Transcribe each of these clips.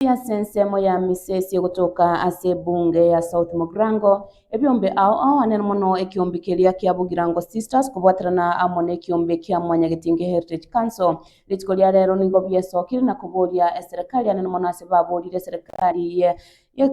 Pi ase ensemo ya misesi egotoka ase ebunge ya South Mogrango, ebiombe ao aoanere mono ekiombe keria kia Bugirango Sisters kobwaterana amo nekiombe kia Mwanyagetinge Heritage Council. Rituko ria rero nigo biesokire na koboria eserekari anene mono ase baborire eserekari ye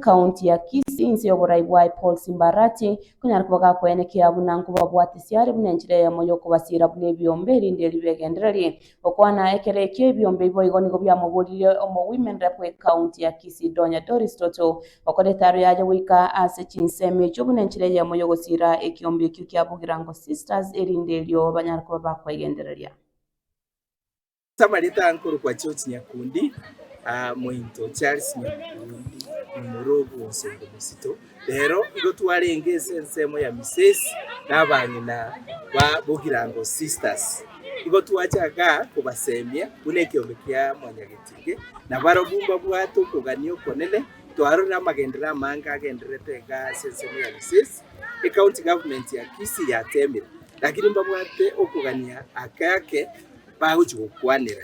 County ya Kisii inse yoborai bwaye Paul Simba Arati konyara koba gakoyana ekiya buna nkobabwate siare buna enchera eyemo yokobasiira buna ebiombe erinde ribe egendereri Gokwana ekero ekio ebiombe iboigo nigo biamogorire omowoimerere bw'ecounty ya Kisii Donya Doris Toto gokora etaro yaye goika ase chinsemo echio buna enchera eyemo y'ogosira ekiombe ekio kia Bugirango Sisters erinde erio banyare koba bakoegendereria. Samarita nkorokwa George Nyakundi, mointo Charles Nyakundi, momura obw'omosunte bosito. Rero igo twarenge ense ensemo ya Misesi na abang'ina ba Bogirango Sisters. Igo twachaka kobasemia buna ekeombe kia mwanyagetige, na barobwo mbabwate okogania okonene. Twarorire amagenderero amange agendererete iga ase ensemo ya Misesi, ecounty government ya Kisii yatemire, lakini mbabwate okogania ake ake bagochi gokwanera.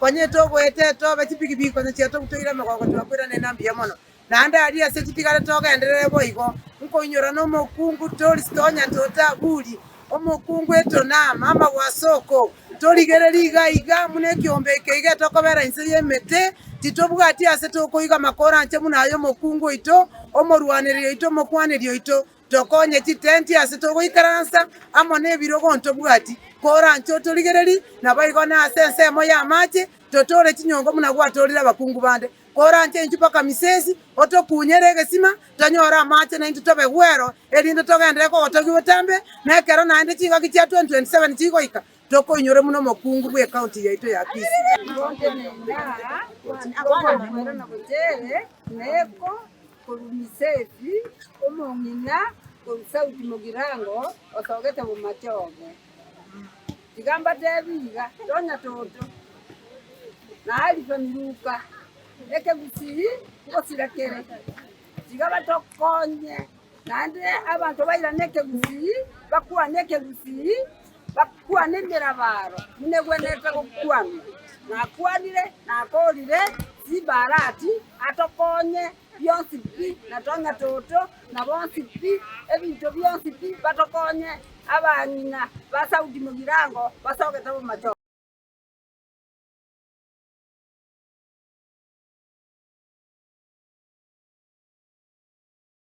Onye togoeta tobe chipigipigi konya chiatogu toire emegongo twakoirana ina mbuya mono. Naende aria ase chitigare togenderere boigo nkoinyora nomokungu toris tonya totaburi omokungu etonam amagwe ase oko torigereri iga iga buna ekiombe eke iga etokobera inse y'emete titobwati ase tokoiga makoro anche buna ay'omokungu oito omorwanereri oito omokwaneri oito Tokonye chitenti ase togoikaransa amo nebirogo ntobwati, koranche otorigereri, naboigo nase ensemo y'amache totoore chinyongo buna gwatoorire abakungu bande. Koranche intwe mpaka Misesi, otokunyere egesima tonyore amache naintwe tobe gwero, erinde togenderere kogotogigwa etambe, na ekero naende chingaki chia 2027 chigoika, tokoinyore buna omokungu bw'ekaunti yaito ya Kisii. Neko korumiseti omong'ina korwa sauti mogirango otogete bomache obe. Tiga mbatebi iga, tonya toto, na Alifa miruka ekegusii ngosira kere, tiga batokonye. Naende abanto bairane ekegusii, bakwane ekegusii, bakwane emerabaro buna egwenerete gokwanwa. Nakwanire, nakoorire, Simba arati, atokonye, bionsi pi, na tong'etoto, na bonsi pi, ebinto bionsi pi, batokonye, abang'ina ba Saudi mogirango basogete obomachoko.